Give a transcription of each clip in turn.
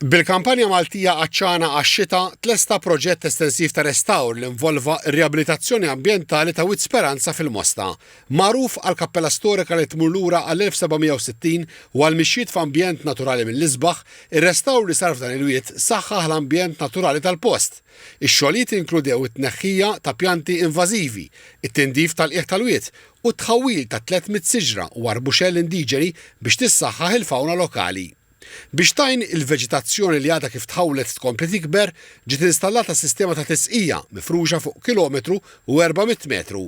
Bil-Kampanja Maltija Għatxana għax-Xita tlesta proġett estensiv ta' restawr li involva r-riabilitazzjoni ambjentali ta' Wied Speranza fil-Mosta, magħruf għall-kappella storika li tmur lura għall-1760 u għall-mixjiet f'ambjent naturali mill-isbaħ, ir-restawr li sar f'dan il-wied saħħaħ l-ambjent naturali tal-post. Ix-xogħlijiet inkludew it-tneħħija ta' pjanti invażivi, it-tindif tal-qiegħ tal-wied u t-tħawwil ta' 300 siġra u arbuxell indiġeni biex tissaħħaħ il-fawna lokali. Biex tgħin il-veġitazzjoni li għadha kif tħawwlet tkompli tikber, ġiet installata sistema ta' tisqija mifruxa fuq kilometru u 400 metru.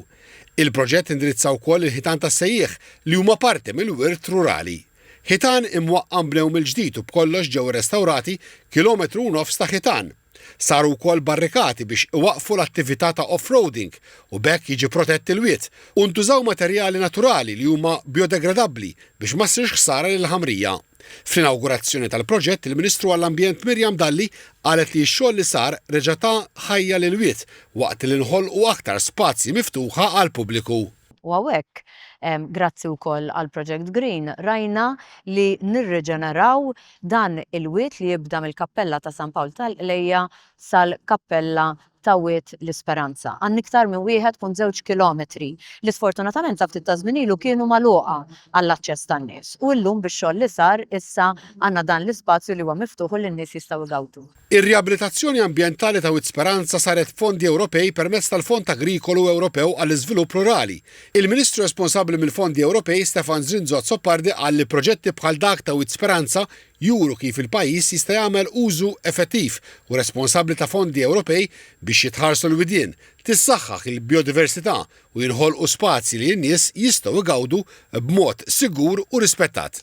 Il-proġett indirizza wkoll il-ħitan tas-sejjieħ li huma parti mill-wirt rurali. Ħitan imwaqqam bnew mill-ġdid u b'kollox ġew irrestawrati kilometru u nofs ta' ħitan. Saru wkoll barrikati biex iwaqqfu l-attività ta' off-roading u b'hekk jiġi protett il-wied, u ntużaw materjali naturali li huma biodegradabbli biex ma ssirx ħsara lill-ħamrija. Fl-inawgurazzjoni tal-proġett il-Ministru għall-Ambjent Miriam Dalli qalet li x-xogħol li sar reġa' ta ħajja lill-wied waqt li nħolqu aktar spazji miftuħa għall-pubbliku. U hawnhekk, grazzi wkoll għall-Project Green, rajna li nirriġeneraw Dan il-wied li jibda mill-Kappella ta' San Pawl tal-Qlejja sal-Kappella ta' Wied l-Isperanza għan iktar minn wieħed punt żewġ kilometri li sfortunatament sa ftit ta' żmien ilu kienu magħluqa għall-aċċess tan-nies u llum bix-xogħol li sar issa għandna dan l-ispazju li huwa miftuħ u li n-nies jistgħu jgawdu Ir-riabilitazzjoni ambjentali ta' Wied Speranza saret b'fondi Ewropej permezz tal-Fond Agrikolu Ewropew għall-Iżvilupp Rurali. Il-Ministru responsabbli mill-fondi Ewropej Stefan Zrinzo Azzopardi qal li proġetti bħal dak ta' Wied Speranza juru kif il-pajjiż jista' jagħmel użu effettiv u responsabbli ta' fondi Ewropej biex jitħarsu l-widien, tissaħħaħ il-bijodiversità u jinħolqu spazji li n-nies jistgħu jgawdu b'mod sigur u rispettat.